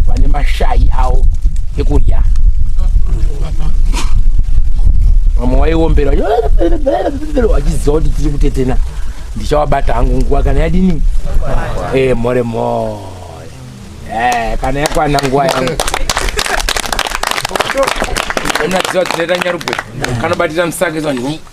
vane mashayi awo ekudya vamwe waiombera vachiziva kuti tiri kutetena ndichawabata hangu nguva kana yadini e more more e kana yakwana nguva yangu unaziva kuti ndatanyarugwe kanobatira musaka izvani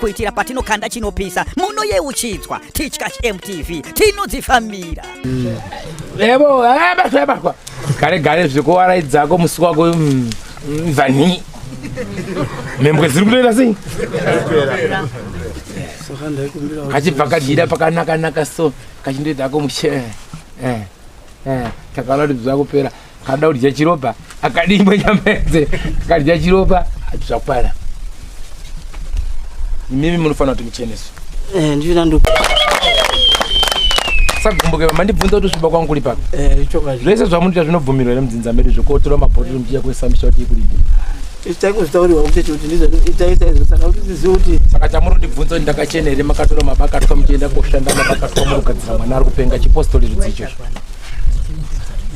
kuitira patinokanda chinopisa munoyeuchidzwa titya mtv tinodzifambira mm. ebo abatwa eh, abatwa gare gare zvekuwarai dzako musi wako mm, mm, vani mhembwe dziri kutoita sei kachibva kadira pakanaka naka so kachindoita ko mushe eh. Eh, takaona kuti zvakupera kada kudya chiropa akadimwe nyamedze akadya chiropa ati zvakupara imimi munofanira kuti mucheneswe eh, ndinoda ndo sagumbuke mandibvunza kuti usviba kwangu kuri paka eh, zvese zvamunoita zvinobvumirwa here mudzinza medu zvokotora mabhotoro muchiya kuesamisha kuti ikuridi itai kuzvitaurirwa kuti chekuti ndizvo itai saizvo saka kuti ndizive kuti saka chamurundibvunza kuti ndakachena here makatora mabakatwa muchienda koshanda mabakatwa murikugadzira mwana ari kupenga chipostori rudzi ichocho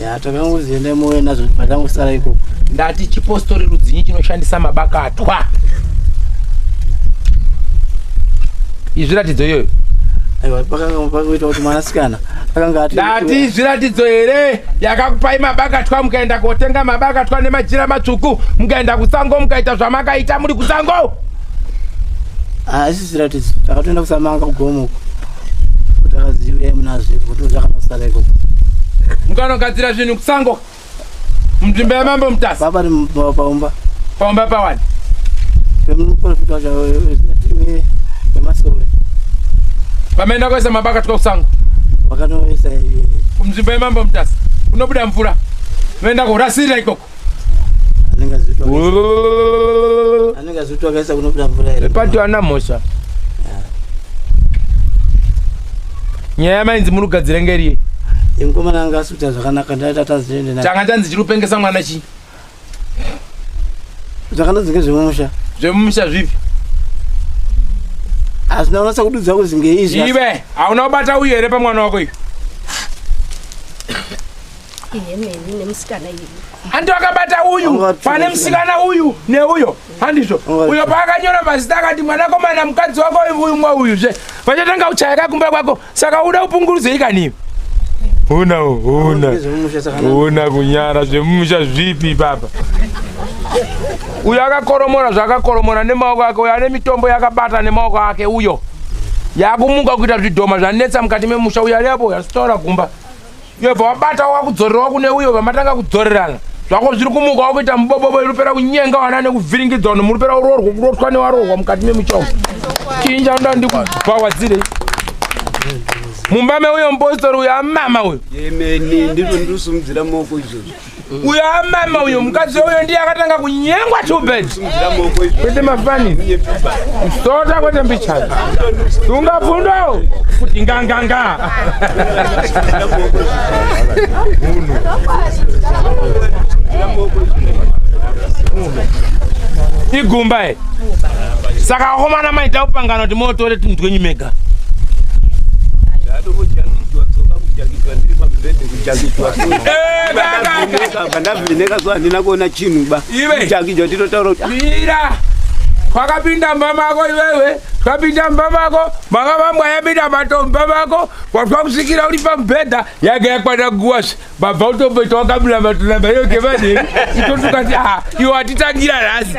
ya takangozienda moyo nazvo patangosara ikoko ndati chipostori rudzinyi chinoshandisa mabakatwa izviratidzo iyoyo aiwa pakanga pakuita kuti mwanasikana ndati zviratidzo here yakakupai mabakatwa mukaenda kotenga mabakatwa nemajira matsvuku mukaenda kusango mukaita zvamakaita muri kusango haisi zviratidzo takatoenda kusamanga kugomo takaziva munazviri kuti zvakanasara ikoko mukanogadzira zvinhu kusango Mzimba ya mambo mtasa. Baba ni mbwa paumba. Paumba pa wani? Kemu profita ja tiwe ya masole. Pamenda kwa sema baka tuko sangu. Baka no isa hivi. Mzimba ya mambo mtasa. Unobuda mvura. Nenda kwa rasira ikoko. Aninga zitwa. Aninga zitwa kaisa kunobuda mvura ile. Pati ana mosha. Nyaya mainzi munugadzira ngeri. Yemkomana ngasi Ita zvakanaka ndaita taziende na. Changa chanzi chiri kupengesa mwana chi. Zvakanzi ngezvemumusha. Zvemumusha zvipi? Asina unasa kududza kuzi ngeizvi. Iwe, hauna kubata uyu here pamwana wako uyu? Yemeni nemusikana iye. Handi wakabata uyu pane musikana uyu neuyo handizvo uyo paakanyora mazita akati mwanakomana mukadzi wako uyu mwa uyu zve vachatanga uchaya kakumba kwako saka uda kupunguruzei kaniwe una una una kunyara zvemumusha zvipi papa uyo akakoromora zvaakakoromora nemaoko ake uyo ane mitombo yakabata nemaoko ake uyo yakumuka kuita zvidhoma zvanetsa mukati memusha uyo ariapo uyo asitaura gumba yobva wabata wakudzorera wakune uyo vamatanga kudzorerana zvako zviri kumuka wakuita mubobobo unopera kunyenga wana nekuvhiringidzwa no munopera uroorwa kurotwa newaroorwa mukati memuchongo chinja nda ndikubhawadzirei mumba meuyo mupostori uyo amama uyo yemeni ndiro ndiri kusumudzira maoko izvozvo uyo amama uyo mukadzi uyo ndiye akatanga kunyengwa two bed kwete mafani sota kwete mbichana tunga pfundo futi nganganga igumba e saka akomana maita kupangana kuti motore tunhu twenyu mega ndakavheneka ndavheneka so handina kuona chinhu ba Iwe. chakija titotaura kuti mira kwakapinda mba mako iwewe kwapinda mba mako makavambwa yapinda matomba mako kwatwa kusikira uri pamubhedha yake yakwana guwasi babva utomboita wakamira matonamba iyo kevanheri itotukati a iwe watitangira nhasi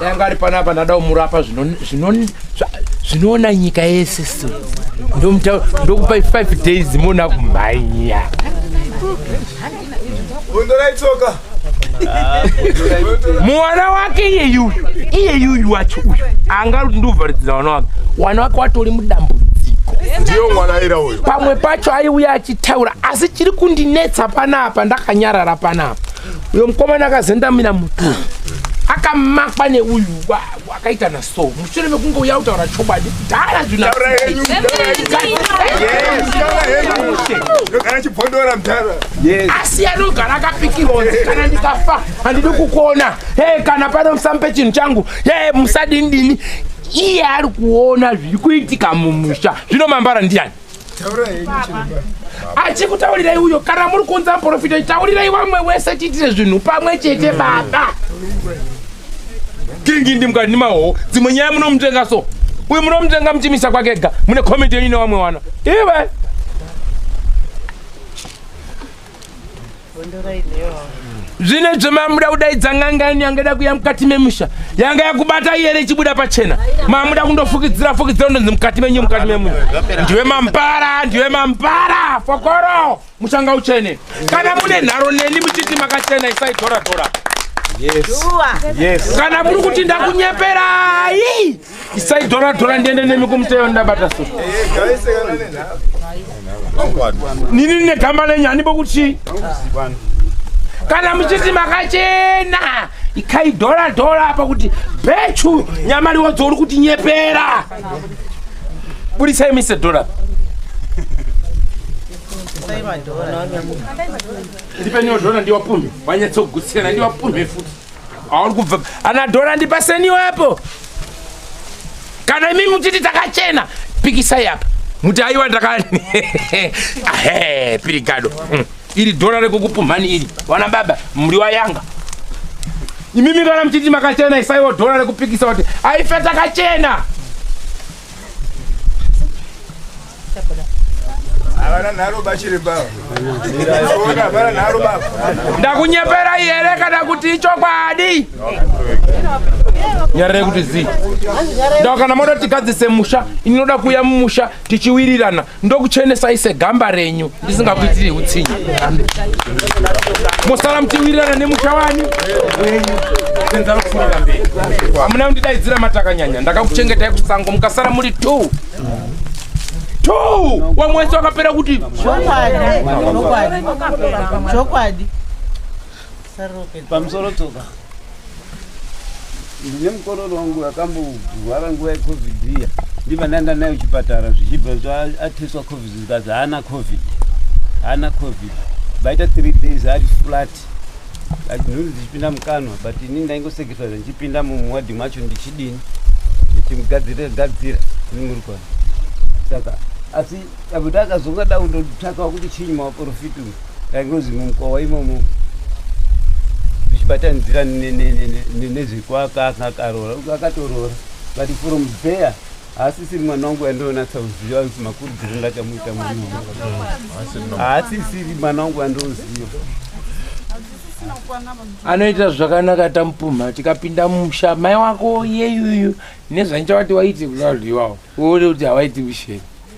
dai anga ari panapa ndada kumurapa zvinoona nyika yese so ndokupai five days mona kumhanya mwana wake iyeyuyu iyeyuyu wacho uyu anga kuti ndovharidzira mwana wake mwana wake watori mudambudzo ndiyo mwana ira uyu pamwe pacho aiuya achitaura asi chiri kundinetsa panapa ndakanyarara panapa uyo mukomana akazendamira mutu akamakwa neuyu akaita naso mushure mekunge uya utaura chokwadi dhara zvinoaasiyana ogara akapikirwa kana ndikafa handidi kukuona e kana pano musamupe chinhu changu e musadini dini iye ari kuona zviri kuitika mumusha zvino mambara ndiani achikutaurirai uyo kana muri kunza muprofita taurirai vamwe wese tiitire zvinhu pamwe chete baba kingi ndimukati ndimahoho dzimwe nyaya munomutenga so uyu munomutenga muchimisa kwake ga mune komiti yenyu nevamwe wana iwe zvine zvemamuda kudaidza ngangani yanga da kuya mukati memusha yanga yakubata iyere ichibuda pachena mamuda kundofukidzira fukidzira ndonzi mukati menyu mukati memunhu ndiwe mampara ndiwe mampara fokoro mushanga uchene kana mune nharo neni muchiti makachena isaidhoradhora kana muri kuti ndakunyeperai isaidhora dhora ndiende nemi kumuteyo ndabata so nini negamba lenyu handibo kuti kana muchiti makachena ikai dhora dhora apa kuti bechu nyamari wadzo uri kuti nyepera budisai mise dhora ndipeniwo dhora ndiwapumhe wanyatsogutsirana ndiwapumhe futi auri kubva ana dhora ndipaseniwo apo kana imi muchiti takachena pikisai apa muti aiwa ndakani ahe pirigado mm. iri dhora rekukupumhani iri wana baba muri wayanga imimi kana muchiti makachena isaiwo dhora rekupikisa kuti aife takachena Havana nharo bachiri baba. Ona havana nharo baba. Ndakunyepera here kana kuti ichokwadi? Nyarare kuti zi. Ndawa kana moda tikadzise musha, inoda kuya mumusha tichiwirirana ndokuchenesa ise gamba renyu ndisingakuitiri utsinye. Musala mtiwirirana nemusha wani? Hamuna kundidaidzira matakanyanya ndakakuchengetai kusango mukasara muri 2. two wamwe wese wakapera kuti chokwadi chokwadi chokwadi saroke pamusoro tsoka ndine mukororo wangu akambogwara nguva yecovid iya ndiva ndanga nayo chipatara zvichibva zvaateswa covid zvikanzi haana covid haana covid vaita three days ari flat like nhunzi dzichipinda mukanwa but ini ndaingosekeswa zvandichipinda mumuwadhi macho ndichidini ndichimugadzira gadzira ini muri kwana saka asi abuti akazonga da kundotsvaka wakuti chinyi mawaporofiti uyu ndaingozi mumukwawa imomo zvichibatanidzira nezvekwakaakaroora akatoroora but from there haasisiri mwana wangu wandonatsa kuziva kuti makurudziro ndakamuita mwana wangu haasisiri mwana wangu wandoziva anoita zvakanaka tamupumha tikapinda musha mai wako yeyuyu nezvanichavati waiti kunazivawo uone kuti hawaiti musheni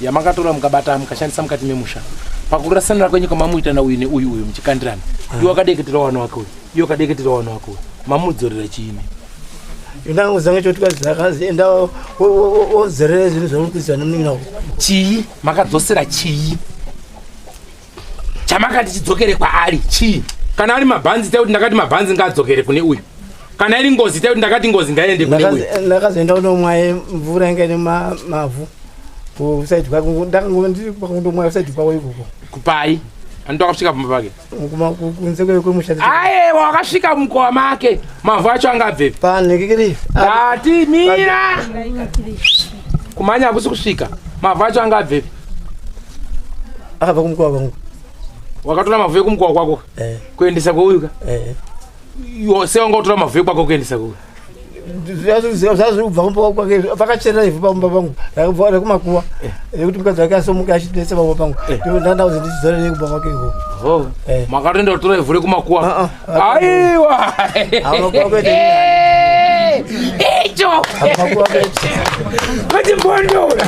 yamakatora mukabata mukashandisa mukati memusha pakurasanira kwenyu kwamamuitana uyu neuyu uyu muchikandirana ah. iwe akadeketera wana wake uyu iwe akadeketera wana wake uyu mamudzorera chiini ndangozanga choti kaziakazi enda wozerere zvinhu zvamukuziva nomuninawo chii makadzosera chii chamakati chidzokere kwaari chii kana ari mabhanzi itai kuti ndakati mabhanzi ngaadzokere kune uyu kana iri ngozi itai kuti ndakati ngozi ngaende kune uyu ndakazoenda kunomwaye mvura yanga ine mavhu kusaidi kwake ndakangondiri kwakundomwaya kusaidi kwako ikoko kupai andiwa akasvika pamba pake kunze kwemusha ayewa wakasvika mumkowa make mavhu acho anga abvepi panhikikiri ati mira kumhanya hakusi kusvika mavhu acho anga abvepi akabva kumukova kwangu wakatora mavhu ekumukova kwako eh. kuendesa kweuyuka eh. se wanga utora mavhu ekwako kuendesa kweuyu zvazviri kubva kumba kwake vakacherera ivhu pamumba pangu rakubva rekumakuva eh. rekuti mukadzi wake asomuka achitesa pamumba pangu ndandauza ndichizorerei kumba kwake iko makatoenda kutora ivhu rekumakuva aiwa icho vachibondora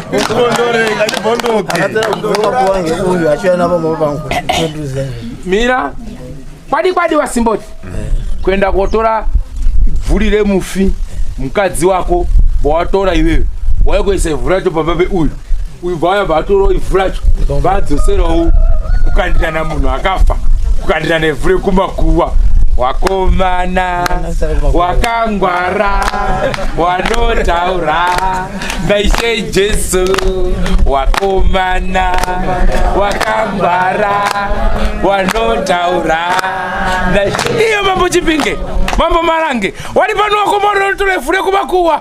mira kwadi kwadi wasimboti kuenda kotora bvuri remufi mukadzi wako wawatora iwewe waikuisa ivhu racho pamba peuyu uyu vaya vatorao ivhu racho vadzoserao kukandirana munhu akafa kukandirana ivhu rekumakuva wakomana wakangwara wanotaura naishe jesu wakomana wakangwara wanotaura iyo mambo chipinge mambo marange wari pano wakomana unotora ivhu rekumakuwa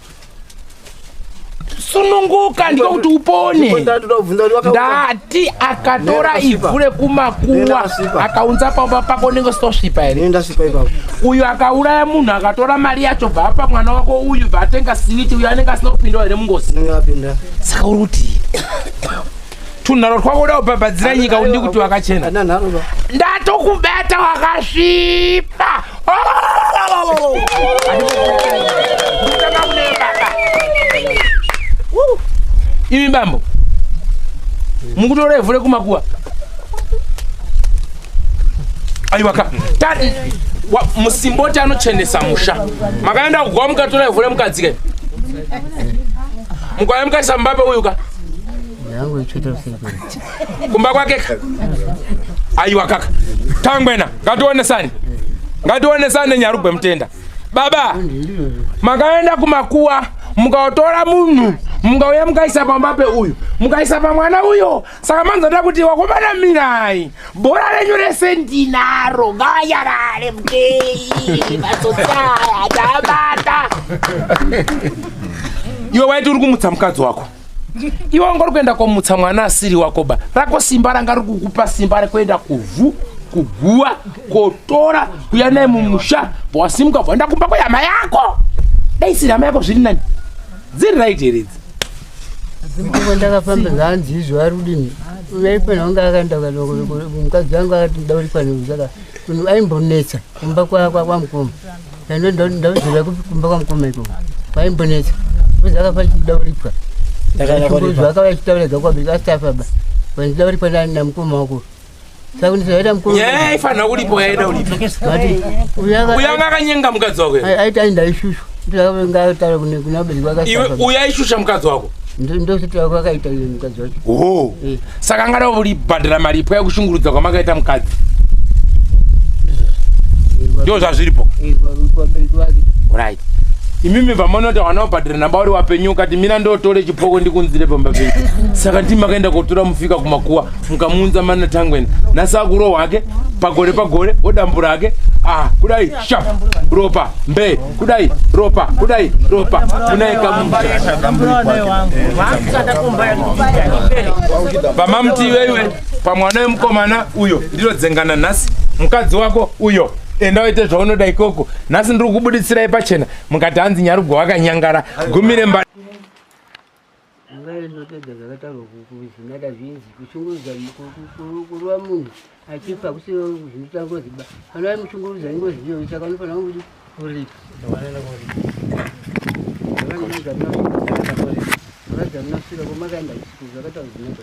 sununguka ndiko kuti upone ndati akatora ivhu rekumakuwa akaunza pamba pako unenge usitosvipa here uyu akauraya munhu akatora mari yacho bva apa mwana wako uyu bva atenga siwiti uyu anenge asina kupindawo here mungozi saka uri kuti tunharo twako uda kubhabhadzira nyika undi kuti wakachena ndatokubeta wakasvipa imi bambo mukutora ivhu rekumakuwa aiwaka musimboti anochenesa musha makaenda kugwa mukatora ivhu remukadzike mukauya mukaisa mumbape uyuka kumba kwake ka aiwa kaka tangwena ngationesane ngationesane nyarugwe mutenda baba makaenda kumakuwa mukaotora munhu mukauya mukaisa pamba peuyu mukaisa pamwana uyo saka manzoda kuti wakomana mirai bhora renyu rese ndinaro ngavanyarare mukei vazotsaya tabata iwe waiti uri kumutsa mukadzi wako iwe wanga uri kuenda komutsa mwana asiri wako ba rako simba ranga ri kukupa simba rekuenda kuvhu kuguva kotora kuya naye mumusha wasimuka bva ndakumba kwehama yako dai siri hama yako zviri nani dziri right here idzi Ndipo ndakafamba zvanzi izvo vari kudini vaipana wanga akaenda mukadzi wangu akati ndoda urikwane saka aimbonetsa kumba kwamukoma ndauziva kumba kwamukoma ikoko kwaimbonetsa kuzi akafa chida uripwa akava chitaura gakwabika asitafaba kwanzida uripwa namukoma wako yaifanira kuripo yaida uripouyaakanyenga mukadzi wako uyo aishusha mukadzi wako oh. eh. saka ngada uribhadhara mari ipo yakushungurudza kwamakaita mukadzi ndo zvazviripo eh, right imimi vamanoti hawana ubhadhira namba uri wapenyuka ti mina ndotore chipoko ndikunzire pamba penyu saka ndimakaenda kotora mufika kumakuwa mukamuunza mana tangwen nasakuro wake pagore pagore odambura ake ah kudai sha ropa mbe kudai ropa kudai ropa munaika pamamuti iweiwe pamwana wemukomana uyo ndiro dzengana nhasi mukadzi wako uyo enda waite zvaunoda ikoko nhasi ndiri kubuditsira ipachena mukati hanzi nyarugo wakanyangara gumi remba Ngari rinotadza zvakataurwa kuzvinada zvinzi kushungurudza kurova munhu achifa kusiro zvinoita ngozi ba kana vari mushungurudza ingozi iyo saka unofanira kuti kuripa zvakadzamnasira komakaenda kusikuru zvakataurwa zvinada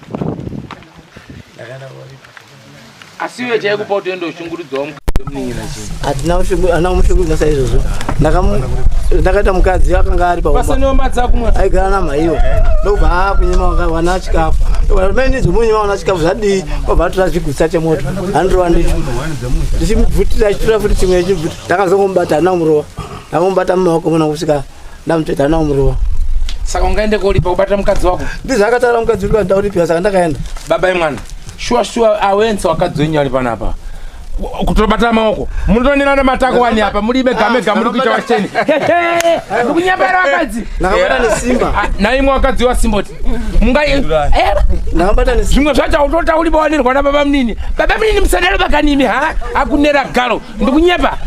asi iwe chai kupa kuti uende ushungurudzwa hatina ana mushungurudza saizvozvo ndakaita mukadzi akanga ari paaigara namhaiwo ndokubva akunyima wana chikafu mainizomunyima wana chikafu zvadii obva atora chigutsa chemoto andirova ndicho ndichimubvutira achitora futi chimwe chimbuti ndakazongomubata handina kumurova ndakamubata mumaoko mona kusvika ndamupedza nawo muriwo saka ungaende kolipa kubata mukadzi wako ndizvo akataura mukadzi uliwa ndauripiwa saka ndakaenda baba yemwana shuwa shuwa awensa wakadzi wenyu ari panapa kutobata maoko munotonirana matako wani apa muribe game ga muri kuita wacheni ndikunyambara vakadzi ndakabata nesimba Ah, naimwe wakadzi wasimboti ndakabata nesimba zvimwe zvacho autotauriba wanirwa nababa munini baba munini musadaro vakanimi ha akunera garo ndikunyepa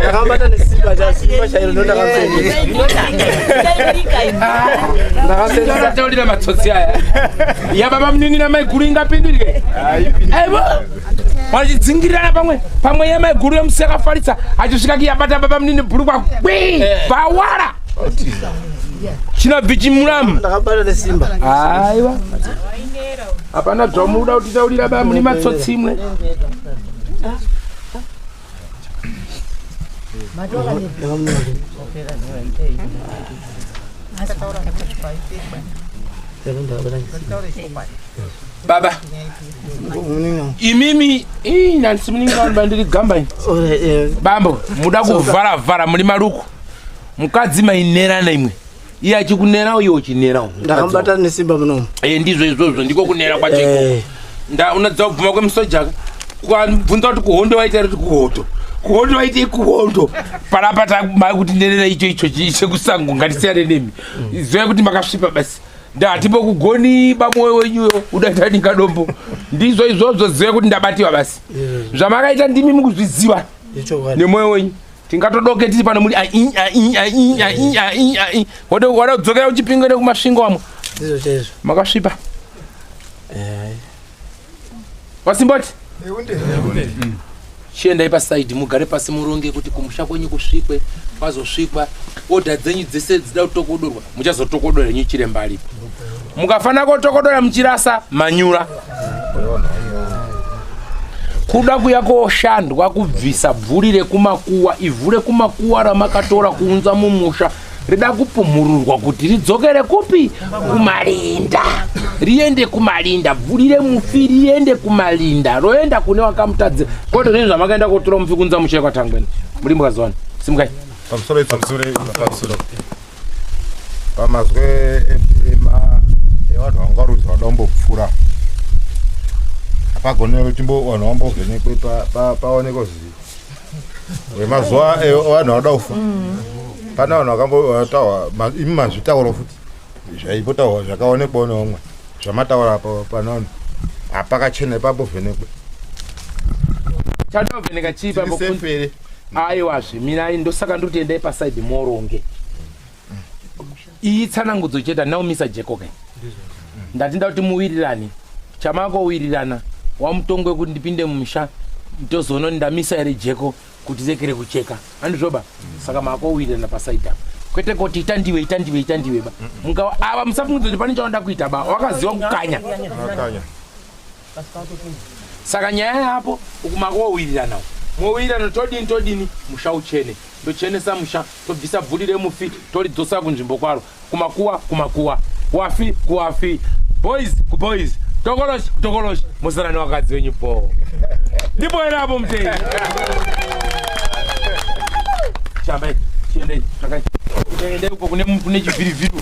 ndakabata nesimba chasimba chairo ndondakasendataurira matsotsi aya yababa munini namai guru ingapindurike aivo vachidzingirirana pamwe pamwe yamai guru yemusi yakafaritsa achisvika kiyabata baba munini bhurukwa kwi bawara chinabvi chimuramu ndakabata nesimba aiwa hapana zvamuda kutitaurira ba mune matsotsi imwe baba imimi ii, nandisi muningi vanhu bandiri gamba ini bambo muda kuvhara vhara muri maruku mukadzi mainerana imwe iye achikunerawo iwe uchinerawo ndakamubata nesimba munomu e ndizvo izvozvo ndiko kunera kwachiko eh. nda unodziva kubvuma kwemusoja kwabvunza kuti kuhondo waita riti kuhoto kuhondo waita ikuhondo panapa tamai kuti nderera icho icho chekusango ngatisiyane nemi zivai kuti makasvipa basi ndatipo kugoni bamoyo wenyuyo udaita ndingadombo ndizvo izvozvo zivai kuti ndabatiwa basi zvamakaita ndimi mukuzviziva nemwoyo wenyu tingatodoke tiri pano muri wada kudzokera kuchipingo nekumasvingo amwe ndizvo chaizvo makasvipa vasimboti chiendai pasaidi mugare pasi muronge kuti kumusha kwenyu kusvikwe kwazosvikwa odha dzenyu dzese dzida kutokodorwa muchazotokodora henyu chiremba aripo mukafanira kotokodora muchirasa manyura kuda kuya koshandwa kubvisa bvuri rekumakuwa ivhu rekumakuwa ramakatora kuunza mumusha rida kupumhururwa kuti ridzokere kupi kumalinda riende kumalinda bvuri remufi riende kumalinda roenda kune wakamutadze koto nei zvamakaenda kotora mufi kunza muchekwa tangweni muri mukazivana simukai pamusoro ipamusoro pamazwe ema evanhu vanga rudzi vada kumbopfuura apagone kuti mbo vanhu vambovhenekwe paonekwa zii vemazuva vanhu vada kufa pane vanhu vakambotaura imi mazvitaura futi zvaipotaura zvakaonekwawo neumwe zvamataura panono hapakachena ipapo vhenekwe chadovheneka chii pambo aiwazve mirai ndosaka ndiri kutoendai pasaidi moronge iyi tsanangudzo chete handina kumisa jeko kai ndati nda kuti muwirirane chamakowirirana wamutongo wekuti ndipinde mumusha tozoona ndamisa here jeko kuti rekere kucheka andizvoba saka makowirirana pasaidi apa kwete kuti ita ndiwe ita ndiwe ita ndiwe ba mungava ava musapungudza kuti pane chaunoda kuita ba wakaziva kukanya saka nyaya yapo uku makowirirana uku mowirirana todini todini musha uchene ndochenesa musha tobvisa bvuri remufi toridzosa kunzvimbo kwaro kumakuwa kumakuwa wafi kuwafi boys kuboys tokoloshi kutokoloshi mosana nevakadzi venyu bho ndipo here apo mutei chambai chiendei zvakaiendei uko kune chivhirivhiri